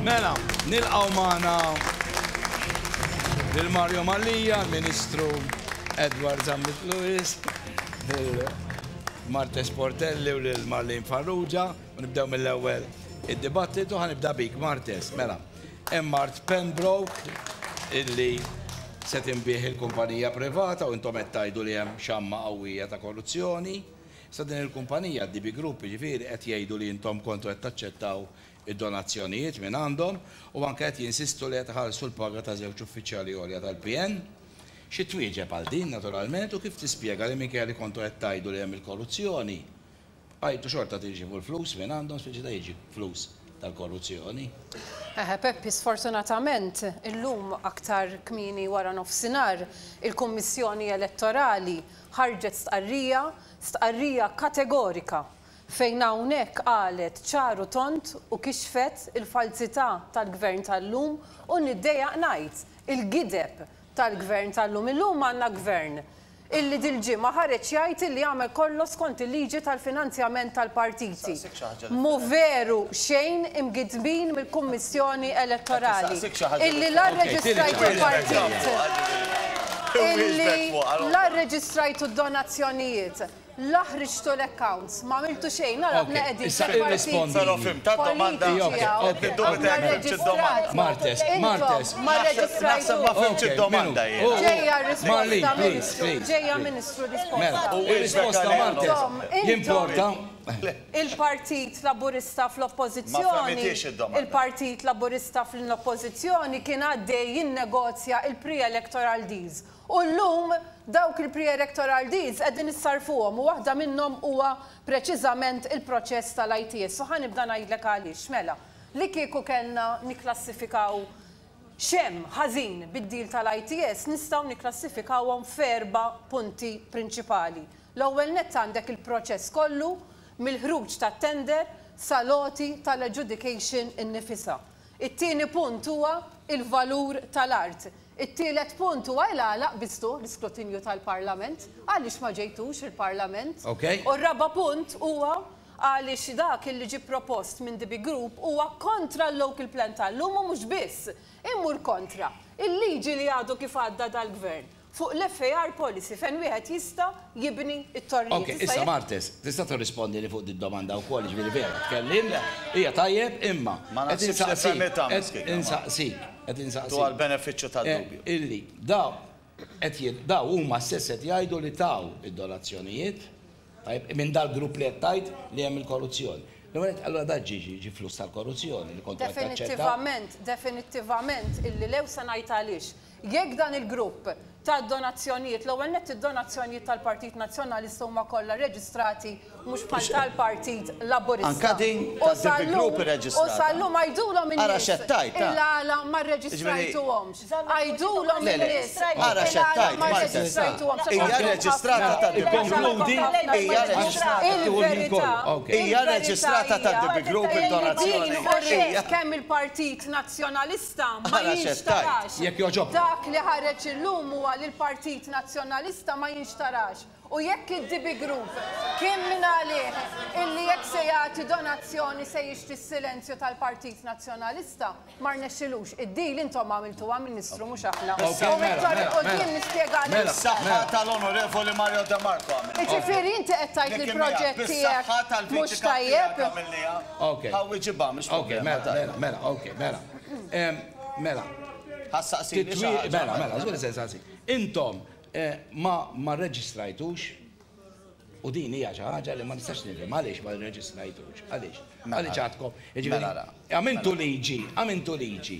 Mela, nilqgħu magħna lil Mario Mallia, l-Ministru Edward Zammit Lewis, lil Marta Sportelli u lil Marlene Farrugia, u nibdew mill-ewwel id-dibattitu ħanibda bik Martes. Mela, hemm Mart Pembroke illi se tinbih il-kumpanija privata u intom qed tgħidu li hemm xamma qawwija ta' korruzzjoni. Sa din il-kumpanija, d-DB Group, jiġifieri, qed jgħidu li intom kontu qed taċċettaw id-donazzjonijiet minn għandhom u anke qed jinsistu li qed iħallsu l-paga ta' żewġ uffiċjali għolja tal-PN. Xi twieġeb għal din, naturalment, u kif tispjega li minkejja li kontu qed tgħidu li hemm il-korruzzjoni, bqajtu xorta tirċievu l-flus minn għandhom, speċita jiġi flus tal-korruzzjoni? Eħe Peppi, sfortunatament, illum aktar kmieni waranofsinhar, il-Kummissjoni Elettorali ħarġet stqarrija, stqarrija kategorika fejn hawnhekk qalet ċar u tond u kixfet il-falzità tal-Gvern tal-lum u niddejjaq ngħid, il-gideb tal-Gvern tal-lum. Illum għandna Gvern illi dil-ġimgħa ħareġ jgħid illi għamel kollox skont il-liġi tal-finanzjament tal-partiti. Mhu veru xejn imgiddbin mill-Kummissjoni Elettorali illi la rreġistrajtu partit, illi la rreġistrajtu d-donazzjonijiet, la ħriġtu l-accounts, m'għamiltu xejn, ara aħna qegħdin fil-partiti politiċi hawn, aħna rreġistrati, intom ma rreġistrajtux. Ġejja r-risposta Ministru, ġejja Ministru r-risposta. Intom, intom. Il-Partit Laburista fl-Oppożizzjoni Il-Partit Laburista fl-Oppożizzjoni kien għaddej jinnegozja l-pre-electoral deals u llum dawk il-pre-electoral deals qegħdin issarrfuhom u waħda minnhom huwa preċiżament il-proċess tal-ITS u ħa nibda ngħidlek għaliex. Mela, li kieku kellna nikklassifikaw x'hemm ħażin bid-deal tal-ITS nistgħu nikklassifikawhom f'erba' punti prinċipali. L-ewwel nett għandek il-proċess kollu mill-ħruġ tat-tender sal-għoti tal-adjudication innifisha. It-tieni punt huwa l-valur tal-art. It-tielet punt huwa ilgħalaq biżthu l-iskrutinju tal-Parlament, għaliex ma ġejtux il-Parlament. U r-raba' punt huwa għaliex dak li ġie propost minn DB Group huwa kontra l-Local Plan tal-lum u mhux biss, imur kontra il-liġi li għadu kif għadda dal-Gvern. fuq l-FAR policy fejn wieħed jista' jibni t-torrijiet. Okej, issa Martes, tista' tirrispondili fuq did-domanda wkoll, jiġifieri vera, tkellimna, hija tajjeb, imma qed insaqsik, qed insaqsik, qed insaqsik. Dwar benefiċċju tad-dubju. Illi dawn qed jgħid, dawn huma stess qed jgħidu li taw id-donazzjonijiet, tajjeb, minn dal-grupp li qed tgħid li hemm il-korruzzjoni. L-ewwel nett, allura dan ġie ġie flus tal-korruzzjoni li kont qed taċċetta? Definittivament, definittivament illi le u se ngħid għaliex. Jekk dan il-grupp ta donazzjonijiet, l-ewwel nett id-donazzjonijiet tal-Partit Nazzjonalista huma kollha reġistrati mhux bħal tal-Partit Laburista u sal-lum għidulhom in-nies il-għala ma rreġistrajtuhomx. Għidulhom in-nies il-għala ma rreġistrajtuhomx. Il-verità hija li din u wriet kemm il-Partit Nazzjonalista Lista ma jinxtarax. Jekk jogħġobkom. Dak li ħareġ illum huwa li l-Partit Nazzjonalista ma jinxtarax. U jekk id-DB Group kien minn għalih illi jekk se jagħti donazzjoni se jixtri s-silenzju tal-Partit Nazzjonalista, ma rnexxilux. Id-deal intom għamiltuha, Ministru, mhux aħna. U mit-torri 'l quddiem nispjega għaliex. Bis-saħħa tal-Onorevoli Mario De Marco għamilniha. Jiġifieri inti qed tgħid li l-proġett tiegħek mhux tajjeb? Okay. How we ġibha mhux Okay, problema mela, tajba. mela, mela, okay, mela. Em, Mela, Ħassaqsi li xi titwi, ħaġa, mela, mela, mela. żgur se nsaqsi. Intom eh, ma ma rreġistrajtux u din hija xi ħaġa li ma nistax nifhem għaliex ma rreġistrajtux. Għaliex? Mela. Għaliex għadkom. Jiġifieri, Mela, la. Għamiltu liġi, għamiltu liġi.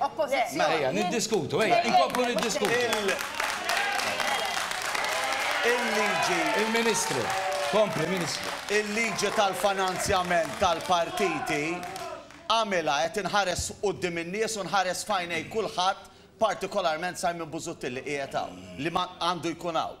Oppożizzjoni. Mela ejja niddiskutu, ejja inkomplu niddiskutu. Il-liġi. Il-Ministru. Kompli, Ministru. Il-liġi tal-finanzjament tal-partiti għamilha qed inħares quddiem in-nies u nħares f'għajnej kulħadd, partikolarment Simon Busuttil li qiegħed hawn, li ma għandu jkun hawn.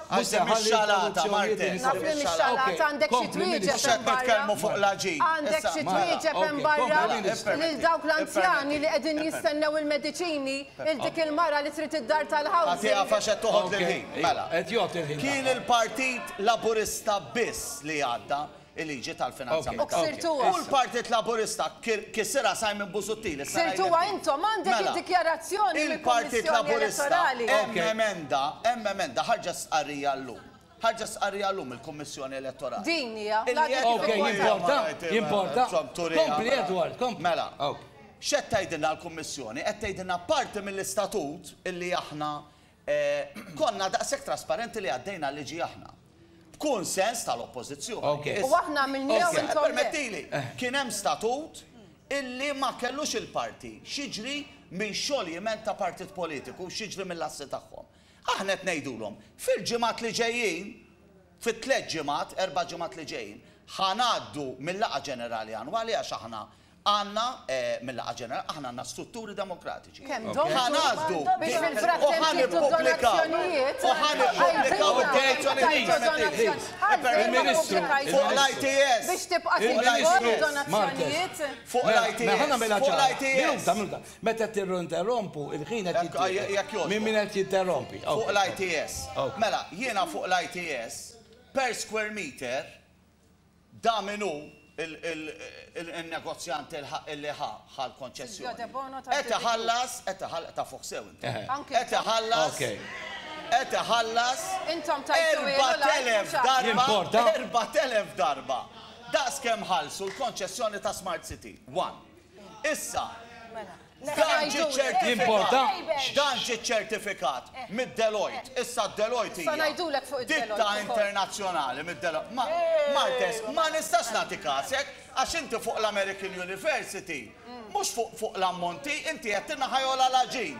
Mhux se ħalli interruzzjonijiet li jsiru. Naf li mix-xalata għandek xi twieġeb hemm barra. Għandek xi twieġeb hemm barra lil dawk l-anzjani li qegħdin jistennew il-mediċini, lil dik il-mara li trid id-dar tal-housing. Agħtiha għax qed toħodli l-ħin. Mela. Kien il-Partit Laburista biss li għadda. il-liġi tal-finanzjament tal-gvern. U l-Partit Laburista kisirha Simon Busuttil is-sena li għaddiet. Ksirtuha intom, għandek id-dikjarazzjoni mill-Kummissjoni Elettorali. Mela, il-Partit Laburista, hemm emenda, ħarġet stqarrija llum. Ħarġet stqarrija llum mill-Kummissjoni Elettorali. Din hija. Jimporta? Kompli, Edward, kompli. Mela, x'qed tgħidilna l-Kummissjoni? Qed tgħidilna parti mill-istatut li aħna Konna daqshekk trasparenti li għaddejna l-liġi aħna. B'kunsens tal-Oppożizzjoni. U aħna għamilniha u intom le. Permettili, kien hemm statut illi ma kellux il-parti x'jiġri minn xoljiment ta' partit politiku, x'jiġri mill-assi tagħhom. Aħna qed ngħidulhom, fil-ġimgħat li ġejjin, fit-tliet ġimgħat, erba' ġimgħat li ġejjin, ħa ngħaddu mill-laqgħa ġenerali annwali għax aħna Għandna, mil-Laqgħa Ġenerali, aħna għandna strutturi demokratiċi. Kemm domtu? Ħa ngħażlu biex fil-frattemp jieħdu donazzjonijiet. U ħa nippubblikaw id-donazzjonijiet. Il-Ministru. Fuq l-ITS. Biex tibqa' tinfurma d-donazzjonijiet. Fuq l-ITS. Ħa nagħmilha ċara. Minuta, minuta. Meta tinterrompu, il-ħin qed jitjieħed minn min qed jinterrompi. Fuq l-ITS. Mela, jiena fuq l-ITS, per square meter, Da min hu il-negozjant illi ħa l-konċessjoni? Qed iħallas, qed iħallas, ta' fuq sew inti. Qed iħallas, qed iħallas. Intom tajtu ilu l-għajnuna. 4,000 darba, 4,000 darba daqs kemm ħallsu l-konċessjoni ta' Smart City. One. Issa, dan ġi ċertifikat mid-Deloitte, issa d-Deloitte hija ditta internazzjonali mid-Deloitte. Martes, ma nistax nagħti każek għax inti fuq l-American University, mhux fuq l-ammonti, inti qed tingħajolha l-għaġin.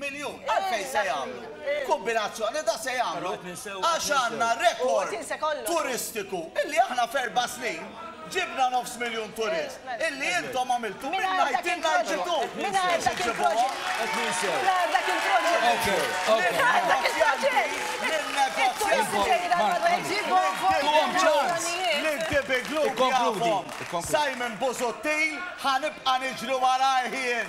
miljun. Għalfejn se jagħmlu kombinazzjoni ta' se jagħmlu għax għandna rekord turistiku illi aħna f'erba' snin ġibna nofs miljun turist illi intom għamiltu minn ngħid jien ngħid intu biex iġibuhom. Mingħajr dak il-proġett. Simon Busuttil ħa nibqa' niġri warajh jien.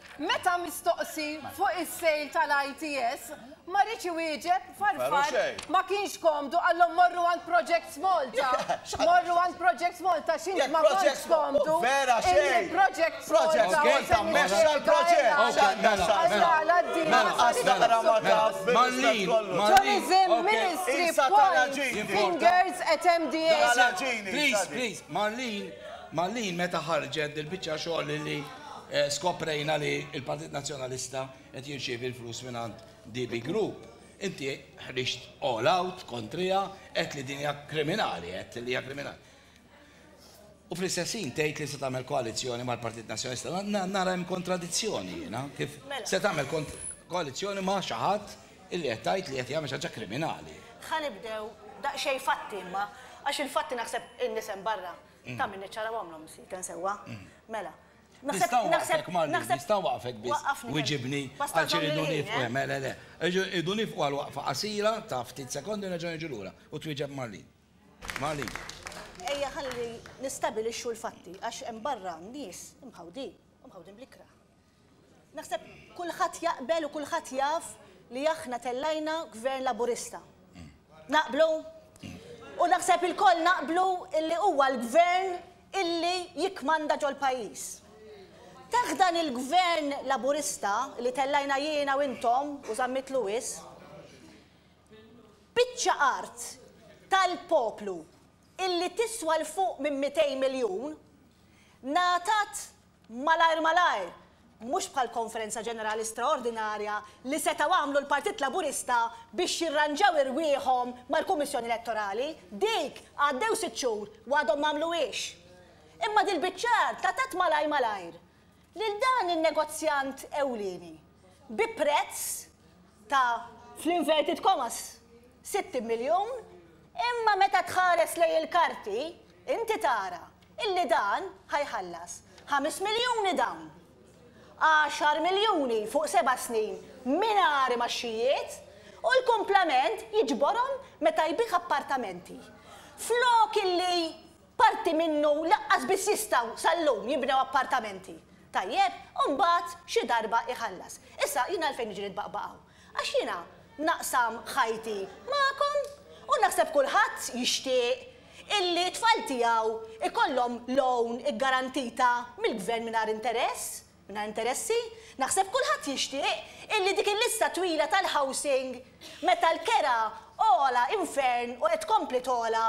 Meta mistoqsi fuq is-sale tal-ITS, ma riedx iwieġeb Farfan ma kienx komdu qalhom morru għand Projects Malta. Morru għand Projects Malta x'int ma kontx komdu illi Projects Malta u Semi Ħlejqa eh, skoprejna li il-Partit Nazzjonalista qed jirċievi l-flus mingħand DB Group. Inti ħriġt all out kontrija qed li dinja kriminali, qed li hija kriminali. U fl-istessin tgħid li se tagħmel koalizzjoni mal-Partit Nazzjonalista. Nara hemm kontradizzjoni jiena kif mela. se tagħmel koalizzjoni ma' xi ħadd illi qed tgħid li qed jagħmel xi ħaġa kriminali. Ħanibdew daqsxejn fatti imma għax il-fatti naħseb in-nisem barra. Ta' min niċċara u għamlhom sieken sewwa. Mela. Nista' nwaqfek Marlene, nista' nwaqfek biss. Wiġibni għax irridu nifqu. Le, le, le. Irridu nifqu għal waqfa qasira ta' ftit sekondi u nerġa' niġu lura u twieġeb Marlene. Marlene. Ejja ħalli nistabilixxu l-fatti għax hemm barra nies imħawdin u mħawdin bl-ikrah. Naħseb kulħadd jaqbel u kulħadd jaf li aħna tellajna Gvern Laburista. Naqblu? U naħseb ilkoll naqblu illi huwa l-Gvern illi jikkmanda ġol-pajjiż. Taħt dan il-Gvern Laburista li tellajna jiena u intom u Zammit Lewis, biċċa art tal-poplu illi tiswa 'l fuq minn 200 miljun ngħatat Malajr malajr, mhux bħal konferenza ġenerali straordinarja li setgħu għamlu l-Partit Laburista biex jirranġaw irwieħhom mal-Kummissjoni Elettorali, dik għaddew sitt xhur u għadhom m'għamluhiex. Imma dil-biċċa art għatat malajr malajr lil dan in-negozjant ewlieni. bi prezz ta', fl-inverted commas, 60 miljun, imma meta tħares lejn il-karti, inti tara illi dan ħa jħallas ħames miljuni dawn, għaxar miljuni fuq seba' snin mingħajr imgħaxxijiet u l-kumplament jiġborhom meta jbigħ appartamenti. Flok illi Parti minnu lanqas biss jistgħu sal-lum jibnew appartamenti. Tajjeb, u mbagħad xi darba jħallas. Issa, jien għalfejn niġi nitbaqbaq hawn? Għax jiena naqsam ħajti magħkom u naħseb kulħadd jixtieq illi t-tfal tiegħu jkollhom loan iggarantita mill-Gvern mingħajr interess, mingħajr interessi. Naħseb kulħadd jixtieq illi dik il-lista twila tal-housing meta l-kera ogħla infern u qed tkompli togħla,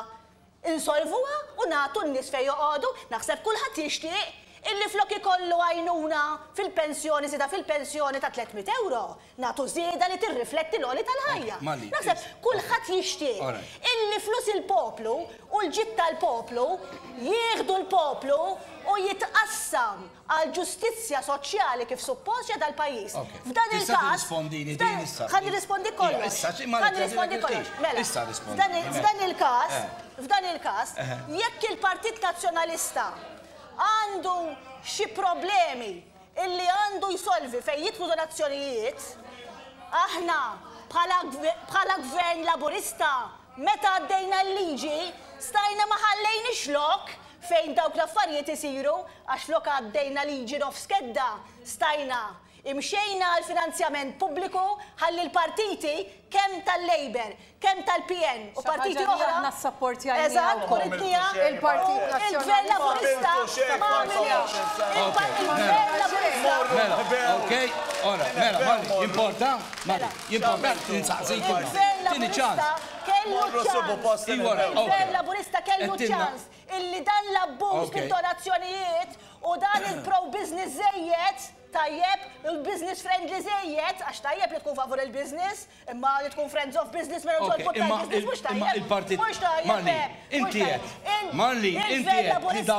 Insolvuha u nagħtu n-nies fejn joqogħdu, naħseb kulħadd jixtieq illi flok ikollu għajnuna fil-pensjoni żieda fil-pensjoni ta' tliet mitt ewro, nagħtu żieda li tirrifletti l-għoli tal-ħajja. Naħseb kulħadd jixtieq illi flus il-poplu u l-ġid tal-poplu jieħdu l-poplu u jitqassam. għall-ġustizzja soċjali kif suppost ġie dal-pajjiż. F'dan il-każ, ħa nirrispondik kollox, ħa nirrispondik kollox. Mela, f'dan il-każ, f'dan il-każ, jekk il-Partit Nazzjonalista għandu xi problemi illi għandu jsolvi fejn jidħlu donazzjonijiet, aħna bħala Gvern Laburista meta għaddejna l-liġi stajna ma ħallejniex lok fejn dawk l-affarijiet isiru, Għax flok għaddejna liġi nofs kedda, stajna, imxejna għal finanzjament pubbliku ħalli l-partiti kemm tal-Labour, kemm tal-PN u partiti oħra. Xi ħaġa li aħna ssapportjajniha wkoll. Il-Partit Nazzjonalista. Il-Gvern Laburista kellu ċ-ċans. illi dan l-abbuż b'intonazzjonijiet u dan il-pro-business żejjed, tajjeb, u l-business friendly żejjed, għax tajjeb li tkun favur il-business, imma li tkun friends of business mingħajr ma tolqot tal-business mhux tajjeb, mhux tajjeb, le, mhux tajjeb. Il-Gvern Laburista.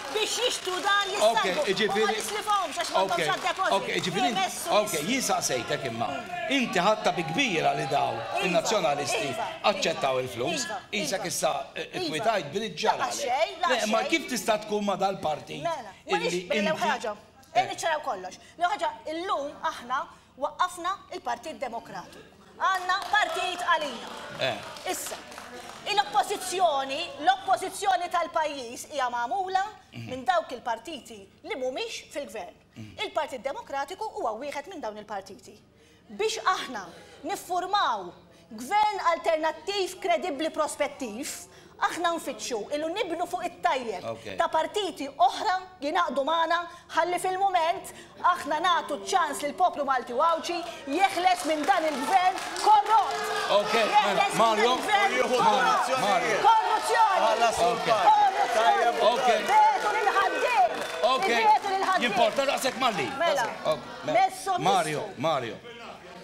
biex jixtru dar jistajbu. U ma nislifhomx għax m'għandhomx għad-deposit. Jemessu. Ok, jien saqsejtek imma. Inti ħadta bi kbira li dawn in-Nazzjonalisti aċċettaw il-flus. Qisek issa kkwitajt b'rid ġralek. Le, imma kif tista' tkun ma' dal-partit illi inti. Mela, mela, l-ewwel ħaġa, ejja niċċaraw kollox. L-ewwel ħaġa, illum aħna Waqqafna il-Partit Demokratiku. Għandna partit għalina. Issa, il-Oppożizzjoni, l-Oppożizzjoni tal-pajjiż hija magħmula minn dawk il-partiti li mhumiex fil-Gvern. Il-Partit Demokratiku huwa wieħed minn dawn il-partiti. Biex aħna niffurmaw Gvern alternattiv kredibbli prospettiv, aħna nfittxu ilu nibnu fuq it-tajjeb ta' partiti oħra jingħaqdu magħna ħalli fil-mument aħna nagħtu ċ-ċans lill-poplu Malti u Għawdxi jeħles minn dan il-gvern korrott. Jeħles minn dan il-gvern korrott. Korruzzjoni! Korruzzjoni! Biegħtu lill-ħaddiem! Ibiegħtu lill-ħaddiem! Mela, messhom l-isfel.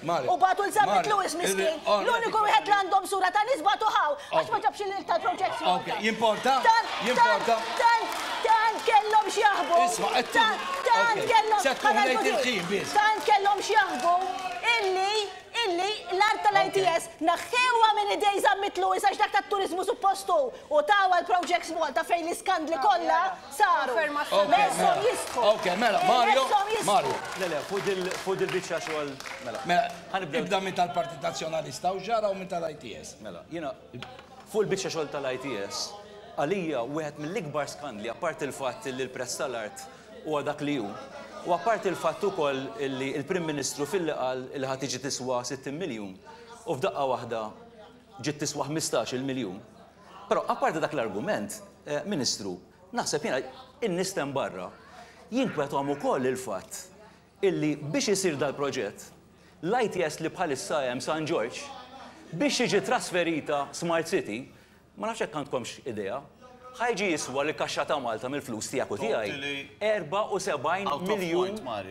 U bagħtu l Zammit Lewis miskin, l-uniku wieħed li għandhom sura ta' nies bagħtu hawn għax ma ġabx il-lil tal-project Malta. Jimporta? Jimporta? Tant, tant kellhom x'jaħbu. Isma' qed Tant kellhom Tant kellhom x'jaħbu illi illi l-art tal-ITS naħħewha minn idej Zammit Lewis għax dak tat-turiżmu suppostu u tawha l-project Malta fejn l-iskandli kollha saru. Meshom jistħu. Ok, mela, Mario. Mario. Le, le, fuq dil-bicċa xogħol. Mela. Mela, ibda minn tal-Partit Nazzjonalista u ġara u minn tal-ITS. Mela, jiena fuq il-bicċa xogħol tal-ITS, għalija wieħed mill-ikbar skandli, apparti l-fatt li l-prezz tal-art huwa dak li hu, u apparti l-fatt ukoll li l-Prim Ministru filli qal li ħa tiġi tiswa 60 miljun u f'daqqa waħda ġiet tiswa 15-il miljun, Però, apparti dak l-argument, Ministru, naħseb jiena, in-nies t'hemm barra, jinkwetahom ukoll il-fatt illi biex isir dal-proġett, l-ITS li bħalissa hemm San Ġorġ, biex tiġi trasferita Smart City, ma nafx jekk għandkomx idea, ħa jiġi jiswa lill-kaxxa ta' Malta mill-flus tiegħek u tiegħi, 74 miljun.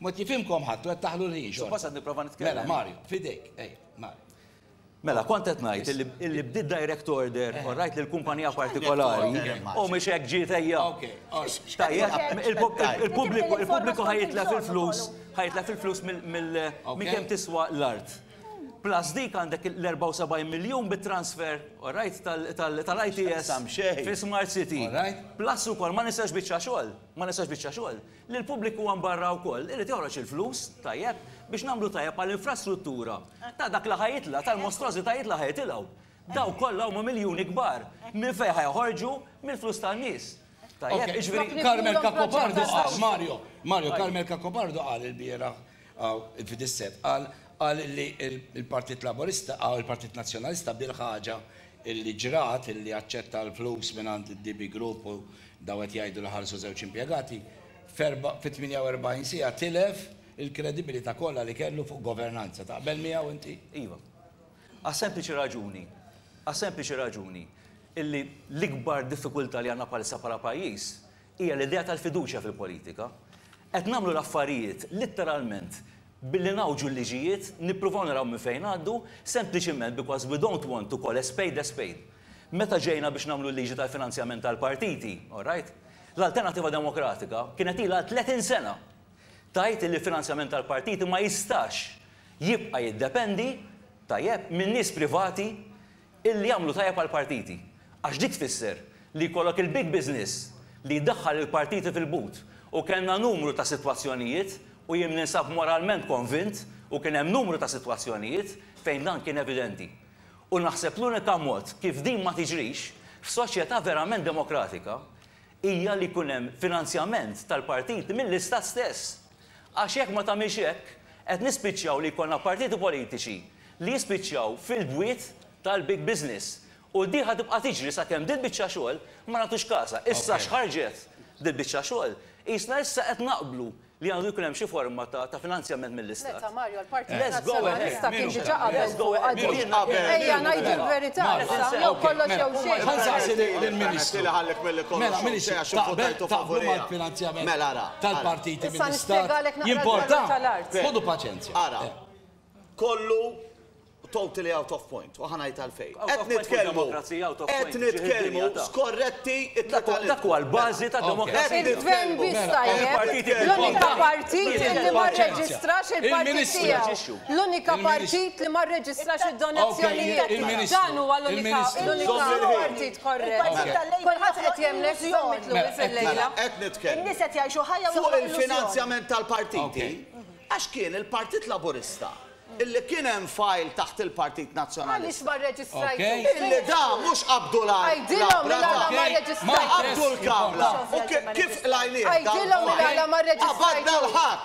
Mod kif imkom ħadtu qed taħlu l-ħin xorta. Suppost qed nipprova nitkellem. Mela Mario, f'idejk, ejja, Mario. Mela, kont qed ngħid illi illi bdiet direct order u rajt li l-kumpanija partikolari u mhix hekk ġiet ejja. Okej, all right. Tajjeb, il-pub- il-pubbliku il-pubbliku ħa jitlef il-flus, ħa jitlef il-flus mill- mill- minn Okej. kemm tiswa l-art. Plus dik għandek l-74 miljun bit-transfer, all right, tal- tal- tal-ITS X'taqsam xejn. fi Smart City. All right. Plus ukoll ma nistax biċċa xogħol, ma nistax biċċa xogħol. li l-pubbliku hemm barra wkoll irid joħroġ il-flus, tajjeb, biex nagħmlu tajjeb għall-infrastruttura ta' dak li ħa jitlaq, tal-mostrożitajiet li ħa jitilgħu. Dawk kollha huma miljuni kbar. Minn fejn ħa joħorġu? Mill-flus tan-nies. Tajjeb, jiġifieri. Carmel Cacopardo qal, Mario, Mario, Carmel Cacopardo qal ilbieraħ Hawn Fidissett qal qal illi l-Partit Laburista hawn il-Partit Nazzjonalista bil-ħaġa illi ġrat illi aċċetta l-flus mingħand id-DB Group u dawn qed jgħidu li ħalsu żewġ impjegati, f'erba' fi 48 siegħa tilef il-kredibilità kollha li kellu fuq governanza. Taqbel miegħu inti? Iva. Għas-sempliċi raġuni, għas-sempliċi raġuni illi l-ikbar diffikultà li għandna bħalissa bħala pajjiż Hija l-idea tal-fiduċja fil-politika. Qed nagħmlu l-affarijiet litteralment billi ngħawġu l-liġijiet, nippruvaw naraw minn fejn ngħaddu, sempliċiment because we don't want to call a spade a spade. Meta ġejna biex nagħmlu l-liġi tal-finanzjament tal-partiti, all right, l-Alternattiva Demokratika kienet ilha għal 30 sena tgħid illi l-finanzjament tal-partiti ma jistax jibqa' jiddependi, tajjeb, minn nies privati Illi jagħmlu tajjeb għall-partiti. Għax dik tfisser li jkollok il-big business li jdaħħal il-partiti fil-but. U kellna numru ta' sitwazzjonijiet, u jien ninsab moralment konvint, u kien hemm numru ta' sitwazzjonijiet, fejn dan kien evidenti. U naħseb l-unika mod kif din ma tiġrix, f'soċjetà verament demokratika, hija li jkun hemm finanzjament tal-partiti mill-Istat stess. Għax jekk ma tagħmilx hekk, qed nispiċċaw li jkollna partiti politiċi li jispiċċaw fil-bwiet tal-big business. U din ħa tibqa' tiġri sakemm dil-biċċa xogħol ma nagħtux kasha. Issa x'ħarġet dil-biċċa xogħol, qisna issa qed naqblu li għandu jkun hemm xi forma ta' finanzjament mill-Istat. Meta, Mario, l-Partit Nazzjonalista kien diġà qabel fuqha din. Mhux qabel. Ejja ngħidu l-verità issa, jew kollox jew xejn. Ħa nsaqsi lill-Ministru. Mela, Ministru, taqblu mal-finanzjament? Mela, ara. tal-partiti minn l-Istat jimporta? Ħudu paċenzja. Ara, kollu totally out of point, u ħanajt għalfejn. Qed nitkellmu, qed nitkellmu, skorretti it-totalità. Dak huwa l-bażi ta' demokrazija. Il-gvern biss tajjeb, l-unika partit li ma rreġistrax il-partit tiegħu. L-unika partit li ma rreġistrax id-donazzjonijiet. Dan huwa l-unika partit korrett. Kulħadd qed jemlek żomm it-tluri fil-lejla. In-nies qed jgħixu ħajja fuq il-finanzjament tal-partiti għax kien il-Partit Laburista illi kien hemm file taħt il-Partit Nazzjonalista. Għaliex ma rreġistrajtux? Illi da mhux qabdu l-għajnuna. Ma qabdu l-kamra. U kif qlajnieh? Qabadna l-ħadd.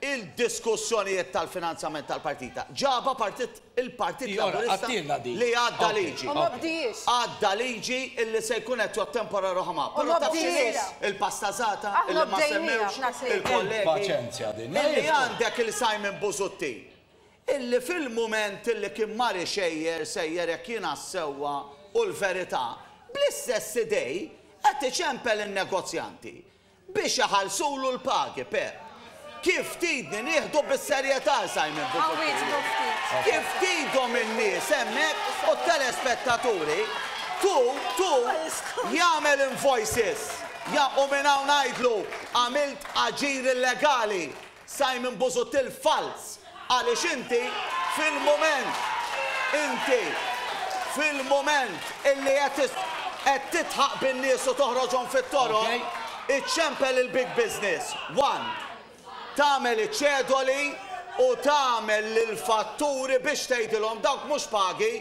il-diskussjonijiet tal-finanzjament tal-partita ġabha partit il-Partit Laburista li għadda liġi. Għadda liġi illi se jkun qed jottemporar oħma. Però taf x'inhi l-pastazata illi ma semmewx il-kollegi? Illi għandek il Simon Busuttil illi fil-mument illi kien mar ixejjer sejjer jekk jiena s-sewwa u l-verità, bl-istess idej qed iċempel in-negozjanti. biex iħallsulu l-pagi, per. Kif tridni nieħdu bis-serjetà l-Simon Busuttil? Kif tridhom in-nies hemmhekk u t-telespettaturi? Tu, tu, jagħmel invoices! Ja, u minn hawn ngħidlu, għamilt aġir illegali! Simon Busuttil falz għaliex inti fil-mument inti fil-mument illi qed tidħaq bin-nies u toħroġhom fit-toroq iċċempel il-big business one tagħmel iċ-ċedoli u tagħmel lill-fatturi biex tgħidilhom dawk mhux pagi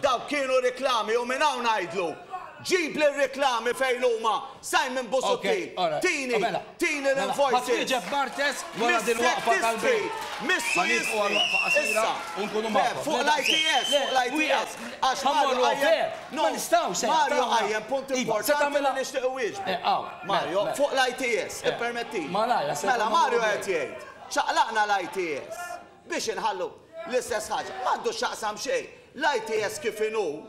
Dawk kienu riklami u minn hawn ngħidlu, ġibli r-riklami fejn huma, Simon Busuttil, tini, tini l-invoices, mis-sectistry, mis-sujistry, issa, le, fuq l-ITS, fuq l-ITS, għax Mario qajjem, no, Mario qajjem punt importanti li nixtieq iwieġbu, Mario, fuq l-ITS, ippermettili, mela Mario qed jgħid, ċaqlaqna l-ITS. Biex inħallu l-istess ħaġa. M'għandu x'jaqsam xejn. L-ITS kif inhu,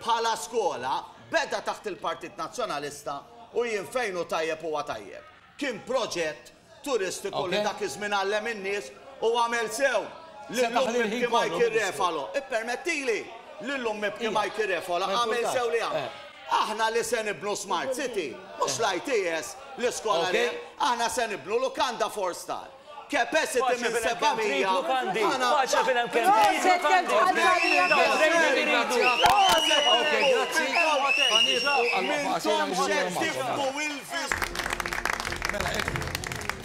bħala skola, beda taħt il-Partit Nazzjonalista u jien fejn hu tajjeb huwa tajjeb. Kien proġett turistiku li dak iż-żmien għallem in-nies u għamel sew. Lil omm ibki Mikey Refalo. Ippermettili. Lil omm ibki Mikey Refalo għamel sew li għamel. Aħna li se nibnu Smart City, mhux l-ITS, l-iskola li hemm, aħna se nibnu lukanda four star. Paċi fil-hemm kemm trid lukandi! Paċi fil-hemm kemm trid lukandi! Mela hekk,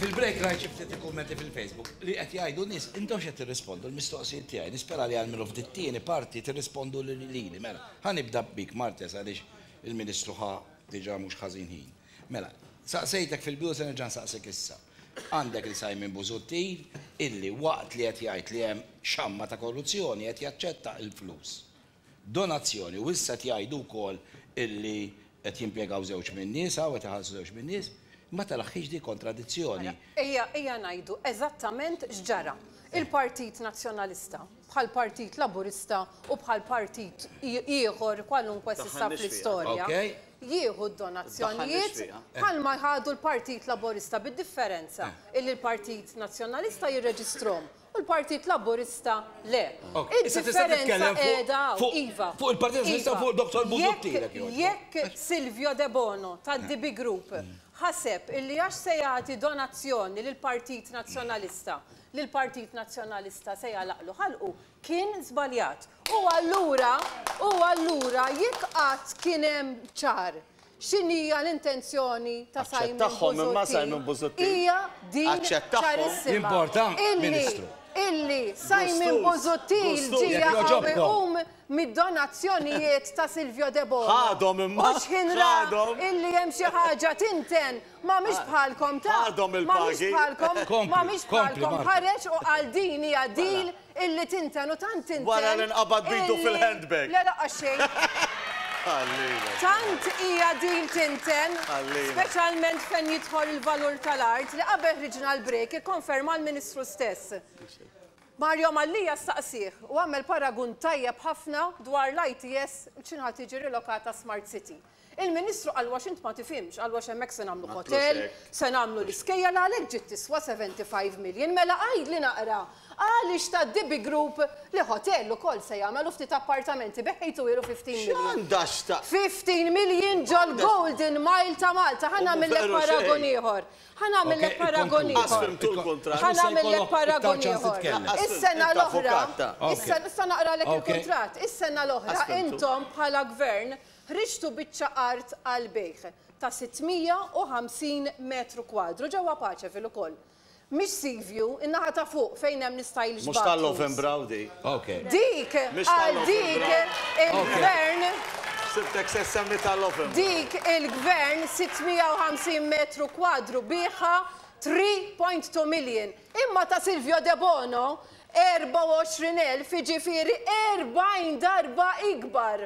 fil-break rajt xi ftit il-kummenti fil-Facebook li qed jgħidu nies, intomx qed tirrispondu l-mistoqsijiet tiegħi, nispera li almenu f'dit tieni parti tirrispondu lili. Mela, ħa nibda bik Martes għaliex il-Ministru ħa diġa mhux ħażin ħin. Mela, saqsejtek fil-bidu se nerġa' nsaqsik issa. Għandek lil Simon Busuttil illi waqt li qed jgħid li hemm xamma ta' korruzzjoni qed jaċċetta il-flus. Donazzjoni u issa qed jgħidu wkoll illi qed jimpjegaw żewġ minn nisa u qed iħallsu żewġ minn nies. Ma telaħħix dik kontradizzjoni. Ejja ejja ngħidu eżattament x'ġara. Il-Partit Nazzjonalista, bħal Partit Laburista u bħal partit ieħor kwalunkwe s'issa fl-istorja, jieħu d-donazzjonijiet bħalma ħadu l-Partit Laburista bid-differenza illi l-Partit Nazzjonalista jirreġistrhom u l-Partit Laburista le. Id-differenza qiegħda hawn, iva. Fuq il-Partit Nazzjonalista fuq Dr. Busuttil. Jekk Silvio Debono tad-DB Group ħaseb illi għax se jagħti donazzjoni lill-Partit Nazzjonalista li l-Partit Nazzjonalista se jagħlaqlu ħalqu, kien żbaljat. U allura, u allura jekk qatt kien hemm ċar x'inhija l-intenzjoni ta' Simon Busuttil. Aċċettahhom imma Simon Busuttil. Hija din ċarissima. Illi, illi Simon Busuttil ġie jaqaw iqum mid-donazzjonijiet ta' Silvio Debono. Ħadhom imma, ħadhom. Mhux ħin ra illi hemm xi ħaġa tinten Ma mhix bħalkom ta'. Għadhom il-pagi. Ma mhix bħalkom. Kompli. Ma mhix bħalkom. Ħareġ u qal din hija deal illi tinten u tant tinten. Wara li nqabad b'idu fil-handbag. Le laqqas xejn. Ħallina. Tant hija deal tinten. Ħallina. Speċjalment fejn jidħol il-valur tal-art li qabel ħriġna l-break ikkonferma l-Ministru stess. Mario Mallia staqsieh u għamel paragun tajjeb ħafna dwar l-ITS b'xi ngħad tiġi rilokata Smart City. Il-Ministru qal wax int ma tifhimx, qal wax hemmhekk se nagħmlu hotel, se nagħmlu l-iskejjel għalhekk ġiet tiswa 75 million. Mela għidli naqra, għaliex ta' DB Group li hotel ukoll se jagħmel u ftit appartamenti beħejtu ilu 15 million. X'għandha x'taqsam? 15 million ġol-Golden Mile ta' Malta. Ħa nagħmillek paragun ieħor. Ħa nagħmillek paragun ieħor. Lanqas fhimtu l-kuntratt. Ħa nagħmillek paragun ieħor. Is-sena l-oħra, issa naqralek il-kuntratt, is-sena l-oħra intom bħala Gvern Ħriġtu biċċa art għall-bejgħ ta' 650 metru kwadru ġewwa Paċeville ukoll. Mhix Seaview, in-naħa ta' fuq fejn hemm l-istyle Mhux ta' Lovenbrough dik. Dik għal dik il-Gvern. Ħsibtek se ssemmi ta' Lovenbrough. Dik il-Gvern 650 metru kwadru biegħha 3.2 million. Imma ta' Silvio Debono 24,000 jiġifieri 40 darba ikbar.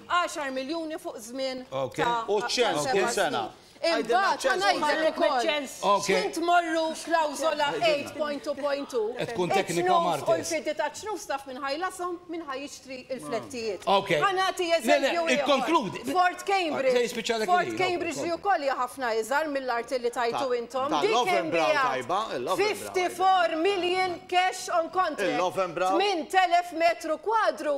10 miljuni fuq żmien ta' seba' snin. Imbagħad ħa ngħidlek ukoll x'ħin tmorru klawżola 8.2.2 it-tnus u l-fidi taċ-ċnus taf min ħa jlashom, min ħa jixtri l-flettijiet. Ħa nagħti eżempju ieħor. Fort Cambridge, Fort Cambridge li wkoll hija ħafna iżgħar mill-arti li tajtu intom, din kien biegħha 54 million cash on contract, 8,000 metru kwadru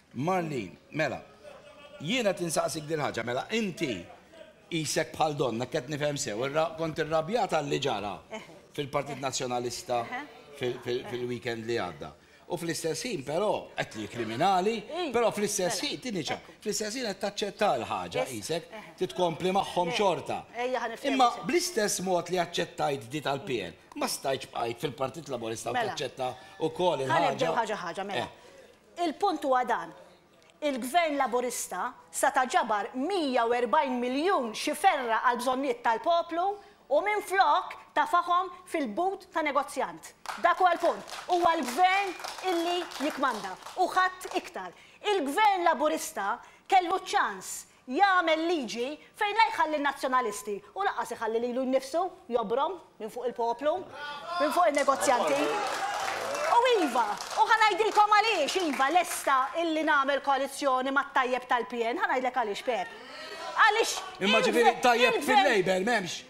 Marlene, Mela, jien qed insaqsik dil-ħaġa, mela inti qisek bħal donnha, hekk qed nifhem sew, kont irrabjata għalli ġara fil-Partit Nazzjonalista fil-weekend li għadda. U fl-istess ħin però, qed li kriminali, però fl-istess ħin, tieni ċa, fl-istess ħin qed taċċetta l-ħaġa qisek, trid tkompli magħhom xorta. Imma bl-istess mod li aċċettajt di tal-PN, ma stajtx bqajt fil-Partit Laburista u taċċetta wkoll il-ħaġa. Ħa nibdew ħaġa ħaġa, mela. Il-punt huwa dan, il-Gvern Laburista sa ta' ġabar 140 miljun xi ferra għall-bżonnijiet tal-poplu u minflok tafahom fil-but ta' negozjant. Dak huwa l-punt. Huwa l-Gvern illi jikkmanda u ħadd iktar. Il-Gvern Laburista kellu ċ-ċans jagħmel liġi fejn la jħalli n-nazzjonalisti u lanqas iħalli lilu nnifsu jobrom minn fuq il-poplu, minn fuq in-negozjanti. U iva, u ħa ngħidilkom għaliex iva lesta illi nagħmel koalizzjoni mat-tajjeb tal-PN, ħa ngħidlek għaliex Pepp. Għaliex il-gvern Imma ġifieri tajjeb fil-Labour m'hemmx?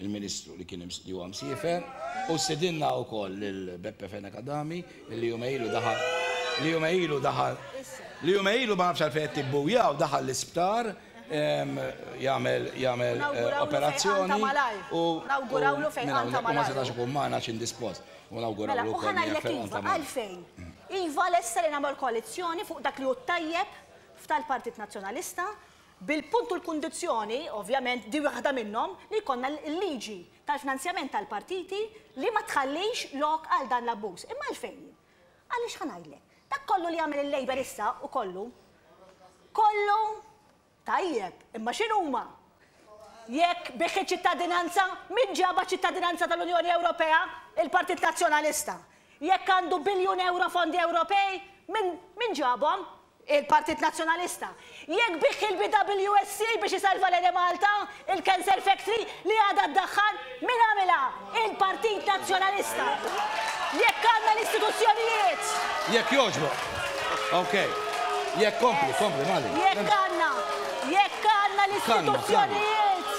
il-Ministru li kien li huwa msiefer u stidinna wkoll lil Beppe Fenech Adami li jumej ilu daħal li jumej ilu daħal li jumej ilu ma nafx għalfejn qed tibbuja u daħal l-isptar ehm, jagħmel jagħmel eh, operazzjoni u nawgurawlu fejn ħanta malaj. Ma setax ikun magħna xi indispost. U nawgurawlu mela, wkoll fejn ħanta iva, malaj. Għalfejn? Iva lesta li nagħmel koalizzjoni fuq dak li hu tajjeb f'tal-Partit Nazzjonalista bil-punt u l-kundizzjoni, ovvjament din waħda minnhom, li jkollna l-liġi tal-finanzjament tal-partiti li ma tħallix lok għal dan l-abbuż. Imma għalfejn? Għaliex ħa ngħidlek. Dak kollu li jagħmel il-Labour issa u kollu, kollu, tajjeb, imma x'inhuma? Jekk bih iċ-ċittadinanza, min ġabha ċ-ċittadinanza tal-Unjoni Ewropea? Il-Partit Nazzjonalista. Jekk għandu biljun ewro fondi Ewropej, min ġabhom? Il-Partit Nazzjonalista, jekk bih il-BWSC biex isalva l-Enemalta, il-cancer factory li għadha ddaħħal, min għamilha? Il-Partit Nazzjonalista! Jekk għandna l-istituzzjonijiet. Jekk jogħġbok. Ok. Jekk kompli, kompli, m'għaliex. Jekk għandna, jekk għandna l-istituzzjonijiet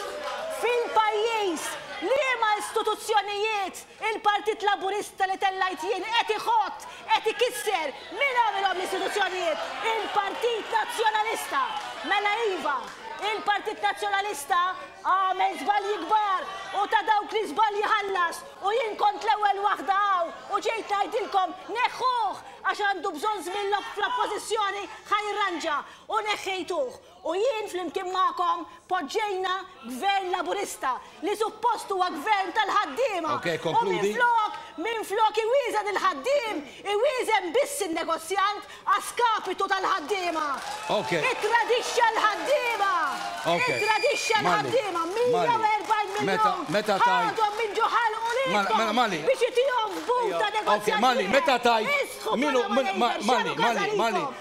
fil-pajjiż, liema istituzzjonijiet Il-Partit Laburista li tellajt jien qed iħott, qed ikisser, min għamilhom l-istituzzjonijiet? Il-Partit Nazzjonalista! Mela iva, il-Partit Nazzjonalista għamel żbalji kbar u ta' dawk l-iżbalji ħallas u jien kont l-ewwel waħda hawn u ġejt ngħidilkom neħħuh għax għandu bżonn żmien fl-Oppożizzjoni ħa jirranġa u neħħejtuh. U jien flimkien magħkom poġġejna Gvern Laburista li suppost huwa Gvern tal-ħaddiema u minflok, minflok iwieżen il-ħaddiem, iwieżen biss in-negozjant a skapitu tal-ħaddiema. Ittradixxa l-ħaddiema! Ittradixxa l-ħaddiema! 140 miljun ħadhom minn ġo ħalqu lilkom biex itihom f'but ta' negozjati! Isħu bħala ma jgħidx x'għamlu każa lilkom!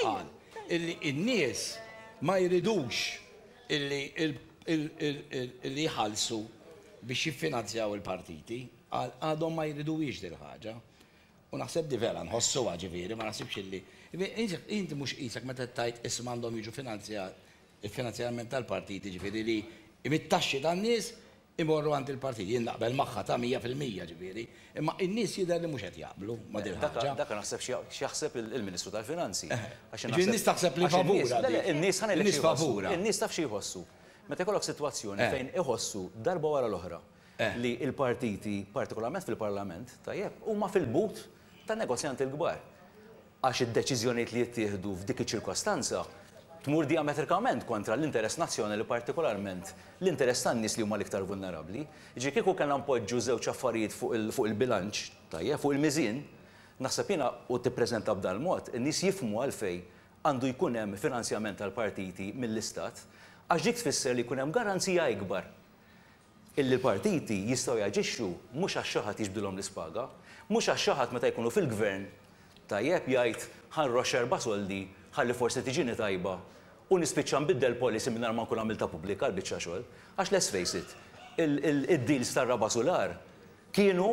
qal illi n-nies ma jridux illi jħallsu biex jiffinanzjaw il-partiti, qal għadhom ma jriduhiex dil-ħaġa. U naħseb di vera nħossuha ġifieri, ma naħsibx illi. Inti mhux qisek meta qed tgħid issa m'għandhom jiġu finanzjat il-finanzjament tal-partiti ġifieri li mit-taxxi tan-nies imorru għand il-partit. Jien naqbel magħha ta' mija fil-mija ġifieri, imma in-nies jidher li mhux qed jaqblu ma' din il-ħaġa. Dak naħseb x'jaħseb il-Ministru tal-Finanzi. Jiġifieri n-nies taħseb li favurha din. Le le, in-nies ħa ngħidlek xi jħossu. In-nies taf xi jħossu. Meta jkollok sitwazzjoni fejn iħossu darba wara l-oħra li l-partiti, partikolarment fil-Parlament, tajjeb, huma fil-but tan-negozjanti l-kbar. għax id-deċiżjonijiet li jittieħdu f'dik iċ-ċirkostanza tmur dijametrikament kontra l-interess nazzjonali partikolarment l-interess tan-nies li huma l-iktar vulnerabbli. Jiġifieri kieku kellna npoġġu żewġ affarijiet fuq il-bilanċ, tajjeb, fuq il-miżien, naħseb jiena, u tippreżenta b'dan il-mod, in-nies jifhmu għalfejn għandu jkun hemm finanzjament tal-partiti mill-Istat għax dik tfisser li jkun hemm garanzija ikbar illi l-partiti jistgħu jaġixxu mhux għax xi ħadd jiġbdilhom l-ispaga, mhux għax xi ħadd meta jkunu fil-Gvern tajjeb jgħid ħa nroxx erba' soldi ħalli forsi tiġini tajba u nispiċċa nbiddel policy mingħajr ma nkun għamiltha pubblika l-biċċa xogħol. Għax let's face it, id-deals tar-raba' sular kienu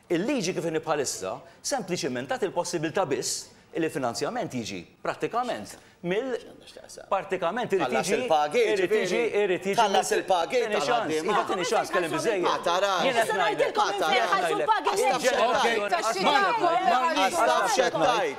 Il-liġi kif inhi bħalissa sempliċiment tagħti l-possibilità biss li l-finanzjament jiġi prattikament mill partikament irid jiġi Tħallas il-pagi, jiġifieri. irid jiġi Tħallas il-pagi tal-ħaddiema. Iva tini ċans kellim biżżejjed. Ma tarax. Jien qed ngħidlek. Nista' ngħidilkom kif se jħallsu l-pagi. Jien qed ngħidlek. Għax taf x'qed tgħid.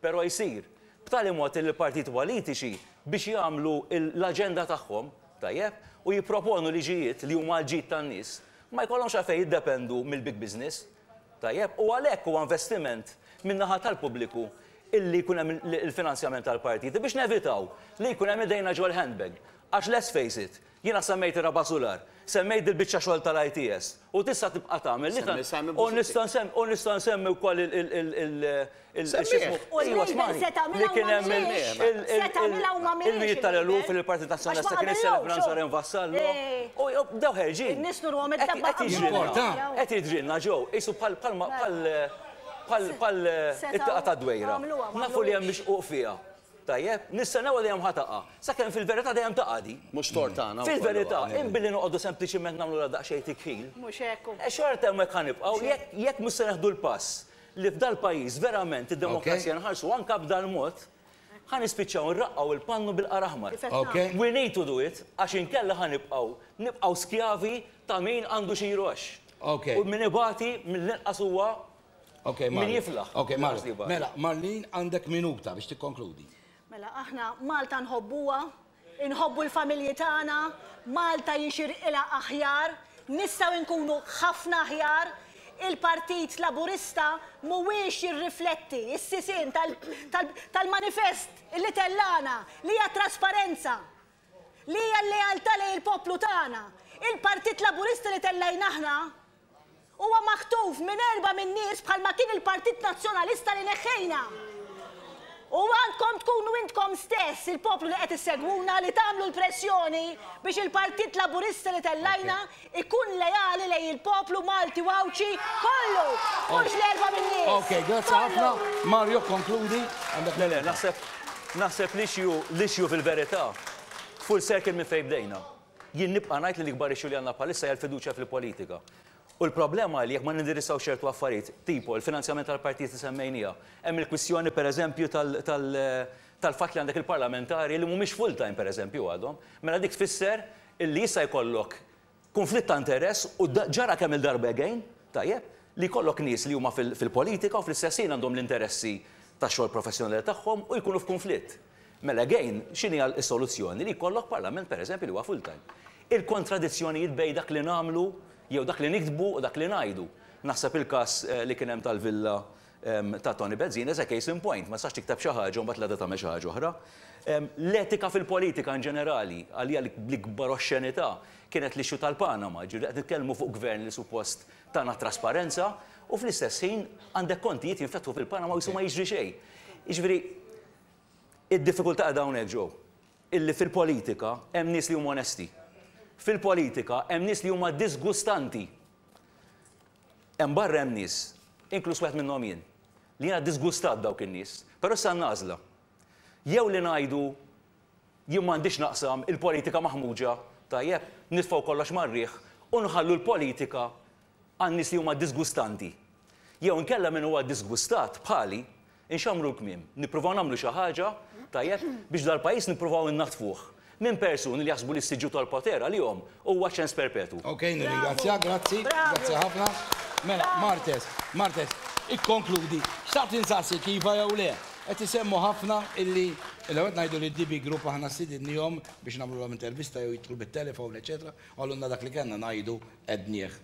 però jsir b'tali mod li l-partiti politiċi biex jagħmlu l-aġenda tagħhom, tajjeb, u jipproponu liġijiet li huma għall-ġid tan-nies, ma jkollhomx għalfejn jiddependu mill-big business, tajjeb, u għalhekk huwa investiment min-naħa tal-pubbliku li jkun hemm il-finanzjament tal-partiti biex nevitaw li jkun hemm idejna ġol-handbag, għax let's face it, Jiena semmejt ir-raba' sular, semmejt dil-biċċa xogħol tal-ITS, u tista' tibqa' tagħmel li tant, u nista' nsemmi, u nista' nsemmi wkoll il, il, il, il, il, x'ismu, ejwa smagħni, li kien hemm il, il, il, il, il-mijiet tal-eluf li l-Partit Nazzjonalista kien iċċelebra nhar Sarem Vassallo, u bdew ħerġin. Qed jidrilna, qed jidrilna ġo, qisu bħal, bħal, bħal, bħal, bħal, it-tieqa tad-dwejra. Nafu li hemm mixquq fiha. Tajjeb, nistennewha dejjem ħa taqa', sakemm fil-verità dejjem taqa' di. Mhux tort tagħna wkoll. Fil-verità, in billi noqogħdu sempliċiment nagħmlulha daqsxejn tikħil. Mhux hekk u. Xorta hemmhekk ħa nibqgħu, jekk, jekk mhux se neħdu l-pass li f'dal pajjiż verament id-demokrazija nħarsuha anke b'dal mod, ħa nispiċċaw nraqqgħu il-pannu bil-qar aħmar. We need to do it, għax inkella ħa nibqgħu, nibqgħu skjavi ta' min għandu xi jroxx. U min ibati mill-inqas huwa Okay, Min jiflaħ? Okay, Marlin. Mela, Marlin għandek minuta biex tikkonkludi. Mela, aħna Malta nħobbuha, inħobbu l-familji tagħna, Malta jixirqilha aħjar, nistgħu nkunu ħafna aħjar, il-Partit Laburista mhuwiex jirrifletti s-sisien tal-manifest li tellana li hija trasparenza. Li hija l-lealtà lejn il-poplu tagħna. Il-Partit Laburista li tellajna aħna huwa maħtuf minn erba' min-nies bħalma kien il-Partit Nazzjonalista li neħħejna. U għandkom tkunu intkom stess, il-poplu li qed issegwuna, li tagħmlu l-pressjoni biex il-Partit Laburista li tellajna Ikun leali lejn il-poplu Malti u Għawdxi kollu, mhux l-erba' min-nies. Ok, grazzi ħafna. Mario, konkludi. Le, le, naħseb, naħseb l-issue, l-issue fil-verità, full circle minn fejn bdejna. Jien nibqa' ngħid li l-ikbar issue li għandna bħalissa hija l-fiduċja fil-politika. U l-problema hi li jekk ma nindirizzaw ċertu affarijiet, tipo l-finanzjament tal-partijiet li semmejniha, hemm il-kwistjoni per eżempju tal, tal, tal-fatt li għandek il-parlamentari li mhumiex full-time per eżempju għadhom, mela dik tfisser illi jista' jkollok kunflitt ta' interess u ġara kemm-il darba again, tajjeb, li jkollok nies li huma fil-politika u fl-istess ħin għandhom l-interessi tax-xogħol professjonali tagħhom u jkunu f'kunflitt. Mela again, x'inhi s-soluzzjoni? Li jkollok parlament pereżempju li huwa full time. Il-kontradizzjonijiet bejn dak li nagħmlu jew dak li niktbu u dak li ngħidu. Naħseb il-każ li kien hemm tal-villa ta' Toni Bezzin is a case in point. Ma tistax tikteb xi ħaġa u mbagħad l-għada tagħmel xi ħaġa oħra. L-etika fil-politika inġenerali, għalija l-ikbar oxxenità kienet l-issue tal-Panama, jiġifieri qed nitkellmu fuq gvern li suppost tana t-trasparenza u fl-istess ħin għandek kontijiet jinfetħu fil-Panama u qisu ma jiġri xejn. Jiġifieri id-diffikultà qiegħda hawnhekk, Joe, illi fil-politika hemm nies li huma onesti. Fil-politika hemm nies li huma diżgustanti Hemm barra hemm nies, inkluż wieħed minnhom jien, li jiena ddisgustat b'dawk in-nies, però issa għandna għażla. Jew li ngħidu jien m'għandix naqsam, il-politika maħmuġa, tajjeb, nitfgħu kollox mar-riħ u nħallu l-politika għan-nies li huma ddisgustanti. Jew inkella min huwa ddisgustat, bħali, Inxammru l-kmiem, nippruvaw nagħmlu xi ħaġa, tajjeb, biex dal-pajjiż nippruvaw innaddfuh minn persuni li jaħsbu li s-siġġu tal-poter għalihom huwa ċens perpetwu. Ok, nirringrazzjak, grazzi, grazzi ħafna. Mela, Martes, Martes, ikkonkludi, xtaqt insaqsik iva jew le, qed isemmu ħafna illi l-ewwel qed ngħidu li d-DB Group aħna stidinniehom biex nagħmlulhom intervista jew jidħlu bit-telefon, eċċetera, qalulna dak li kellna ngħidu għednieh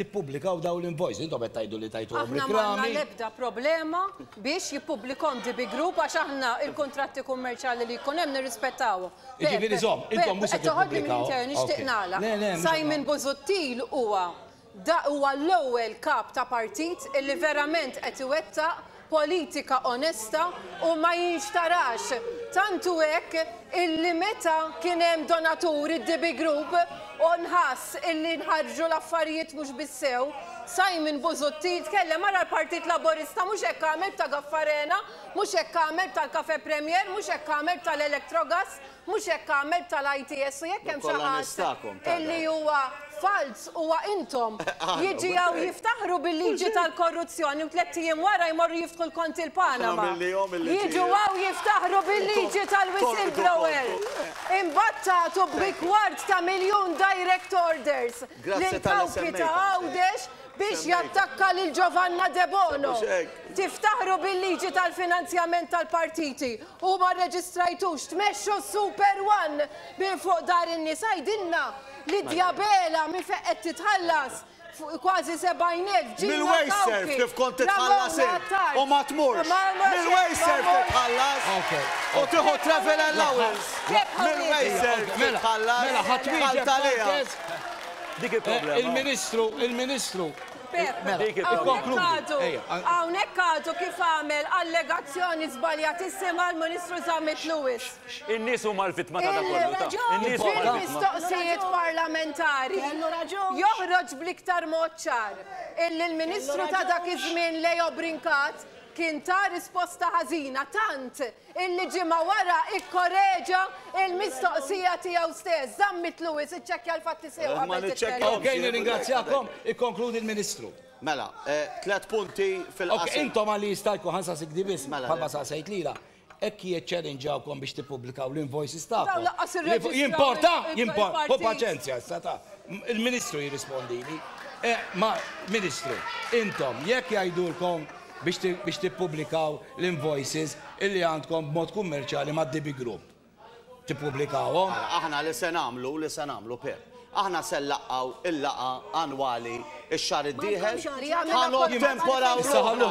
tippubblikaw dawn l-invoices. Intom qed tgħidu li tajtuhom reklami. Aħna m'għandna l-ebda problema biex jippublikhom DB Group għax aħna l-kuntratti kummerċjali li jkun hemm nirrispettawhom. Jiġifieri żomm, intom mhux se tippublikaw. Nixtieq nagħlaq. Simon Busuttil huwa huwa l-ewwel kap ta' partit illi verament qed iwettaq politika onesta u ma jinxtarax, tant hu hekk illi meta kien hemm donatur id-DB Group u nħass illi nħarġu l-affarijiet mhux bis-sew, Simon Busuttil tkellem ara l-Partit Laburista mhux hekk għamel b'Ta' Gaffarena, mhux hekk għamel b'tal-Cafe Premier, mhux hekk għamel b'tal-Electrogas, Mhux hekk għamel btal-ITS u jekk hemm xi ħadd illi huwa falz huwa intom. Jiġi hawn jiftaħru bil-liġi tal-korruzzjoni u tlett ijiem wara jmorru jiftħu l-konti l-Panama. Jiġu hawn jiftaħru bil-liġi tal-whistleblower. Imbagħad tagħtu b'rikward ta' miljun direct orders lill-kawpi ta' Għawdex biex jattakka lil Giovanna Debono. Tiftaħru bil-liġi tal-finanzjament tal-partiti u ma rreġistrajtux tmexxu s-Super One minn fuq dar in-nies. Għidilna li Diabela minn fejn qed titħallas kważi 70,000 ġimgħa. Mill-wejserf kif kont titħallas int u ma tmurx. Mill-wejserf titħallas u tieħu travel allowance. Mill-wejserf titħallas bħal Taliha. Dik il-problema. Il-Ministru, il-Ministru. Dik il-problema. Hawnhekk għadu kif għamel allegazzjoni żbaljatissima l-Ministru Zammit Lewis. In-nies huma l-vittma ta' dan kollu. In-nies huma l-vittma. Mistoqsijiet parlamentari joħroġ bl-iktar mod ċar illi l-Ministru ta' dak iż-żmien Leo Brincat kien ta risposta ħażina tant illi ġimgħa wara ikkoreġa l-mistoqsija tiegħu stess. Żamm mitlu wis, iċċekkja l-fatti sew qabel titkellem. Ma niċċekkjahomx. Okej, nirringrazzjakom, ikkonkludi l-Ministru. Mela, tliet punti fil-qasir. Okej, intom għal li jista' jkun, ħa nsaqsik di biss, bħalma saqsejt lilha, hekk jiċċelinġawkom biex tippubblikaw l-invoices tagħkom? Dawn lanqas irreġistraw. Jimporta? Jimporta? Ħu paċenzja issa ta'. Il-Ministru jirrispondili. Ma, Ministru, intom jekk jgħidulkom biex tippubblikaw l-invoices illi għandkom b'mod kummerċjali mad-DB Group. Tippubblikawhom? Mela, aħna li se nagħmlu, li se nagħmlu, Pep, aħna se nlaqgħu l-laqgħa annwali x-xahar id-dieħel, ħa nottemporaw ruħna,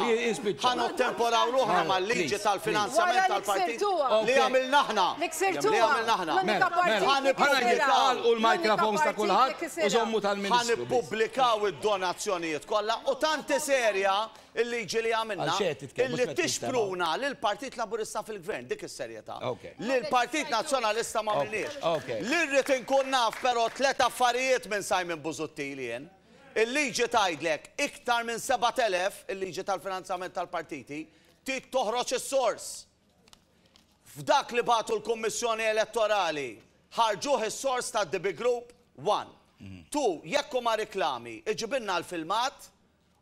ħa nottemporaw ruħna mal-liġi tal-finanzjament tal-partit li għamilna aħna, li għamilna aħna. Mela, mela, ħa nippublikaw u l-mikrofons ta' kulħadd u żommu tal-ministru. Ħa nippublikaw id-donazzjonijiet kollha u tanti serja Il-liġi li għamilna, li tixpruna lill-Partit Laburista fil-Gvern, dik is-serjetà. Lill-Partit Nazzjonalista m'għamilniex. Li rrid inkun naf però tliet affarijiet minn Simon Busuttil jien. Il-liġi tgħidlek iktar minn 7,000, il-liġi tal-finanzjament tal-partiti, trid toħroġ is-sors. F'dak li bagħtu l-Kummissjoni Elettorali, ħarġuh is-sors tad-DB Group, one. Two, jekk huma riklami, iġibilna l-filmat,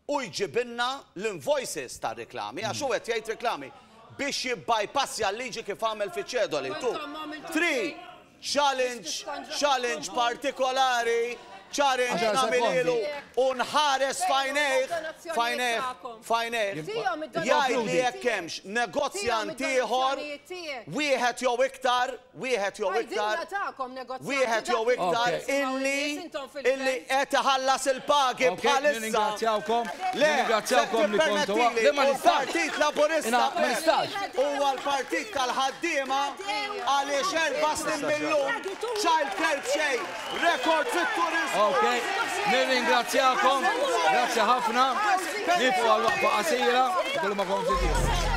u jġibilna l-invoices tar-riklami, għax hu qed jgħid riklami, biex jibbajpassja l-liġi kif għamel fiċ-Ċedoli. Tu tri challenge, challenge partikolari, challenge nagħmililu u nħares f'għajnejh, f'għajnejh, f'għajnejh, jgħidli jekk hemmx negozjant ieħor, wieħed jew iktar, wieħed jew iktar, wieħed jew iktar illi illi qed iħallas il-pagi bħalissa. Le, tippermettili, il-Partit Laburista huwa l-partit tal-ħaddiema għaliex erba' snin mill-lum child care b'xejn. Rekord fit-turizmu. Ok, nirringrazzjakom, grazzi ħafna, nifu għal waqfa qasira, kullu ma konfli tiegħu.